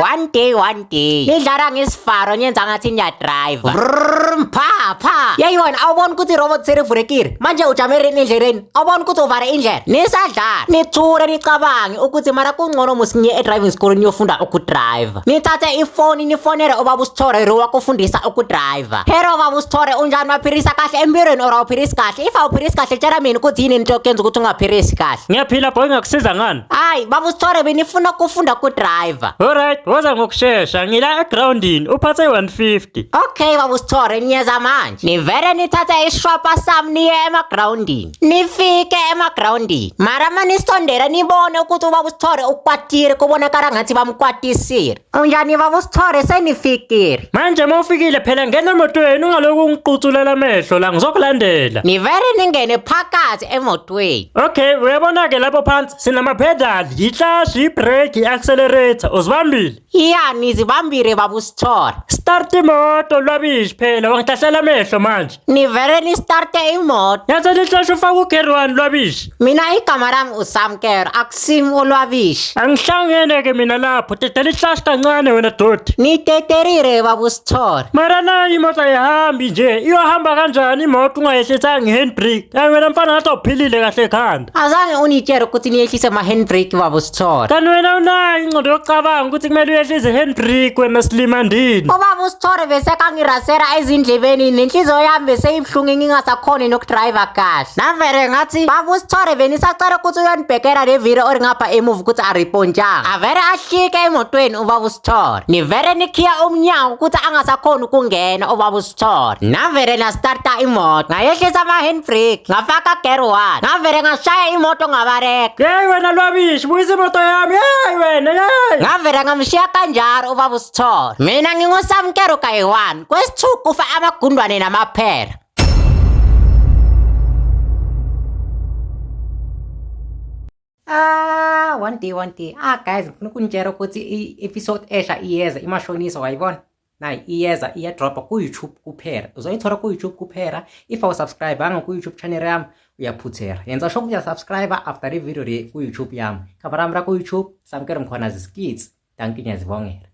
one day one day nidlala ngesifaro niyenza ngathi niyadrive Vrrrm, pha pha yayona awubona ukuthi irobot serivulekile manje ujame rini endleleni awubona ukuthi uvale indlela nisadlala nithule nicabange ukuthi mara kungcono musinye edriving school niyofunda ukudrive nithathe ifoni nifonele ubaba usithore ro wakufundisa ukudrive hero baba usithore unjani waphilisa kahle empilweni or awuphilisi kahle if awuphilisi kahle tshela mina ukuthi yini into yokuyenza ukuthi ungaphilisi kahle ngiyaphila boy ngakusiza ngani Hayi, baba uSithole benifuna ukufunda kudriver. Alright, woza ngokushesha. Ngila egroundini, uphathe 150. Okay, baba uSithole niyeza manje. Nivele nithathe ishwapa sami niye emagroundini. Nifike emagroundini. Mara manisondela nibone ukuthi ubaba uSithole ukwatile kubonakala ngathi bamkwatisile. Unjani baba uSithole senifikile. Manje mawufikile phela ngena emotweni ungaloku ungiquthulela amehlo la ngizokulandela. Nivele ningene phakathi emotweni. Okay, uyabona ke lapho phansi sinama pedal, yihlashi, yibrake, yiaccelerator. Uzibambile? Iya nizibambile baba uSithole. Start imoto lwabishi phela wangihlahlela amehlo manje. nivele nistarte imoto Yaze lihloshe ufaka ugerwani lwabishi. mina igama lami usamkero akusim olwabishi Angihlangene ke mina lapho. Tete lihlashi kancane wena doti. niteterire babusithole Mara nayo imoto ayihambi nje. Iyohamba kanjani imoto ungayehlisanga i-handbrake? Ayi wena mfana ngathi awuphilile kahle ekhanda. azange unitshele ukuthi niyehlise ma-handbrake babusithole Thola. Kanti wena unayo ingqondo yokucabanga ukuthi kumele uyehle izihendrik wena silima ndini. Ubaba uSithore besekangirasera ezindlebeni nenhliziyo yami beseyibuhlungu ngingasakhoni nokudriver kahle. Navele ngathi baba uSithore benisacela ukuthi uyonibhekela le video or ngapha emuva ukuthi aripontshanga. Avele ahlike emotweni ubaba uSithore. Nivele nikhiya umnyango ukuthi angasakhoni ukungena ubaba uSithore. Chor. Ngavele ngastarta imoto. Ngayehlisa ama-hand brake. Ngafaka gear one. Ngavele ngashaya imoto ngabareka. Yeyi wena lwabishi buyisa imoto yami yeyi wena yeyi Ngavele ngamshiya kanjalo ubaba uSithole. Mina ngingusamkero kayi-one. Kwesi-two kufa amagundwane namaphela. Ah, one day, one day. Ah, guys, ngifuna ukunitshela ukuthi i-episode esha iyeza, imashonisa, wayibona? nayo iyeza iyadropha ku-youtube kuphela uzoyithola ku-youtube kuphela if awusubscribanga ku-youtube channel yami uyaphuthela yenza sho ukuthi uyasubscribe after i-video le ku-youtube yami khavara yami ra ku-youtube samukele mkhona ziskits danki ngiyazibongela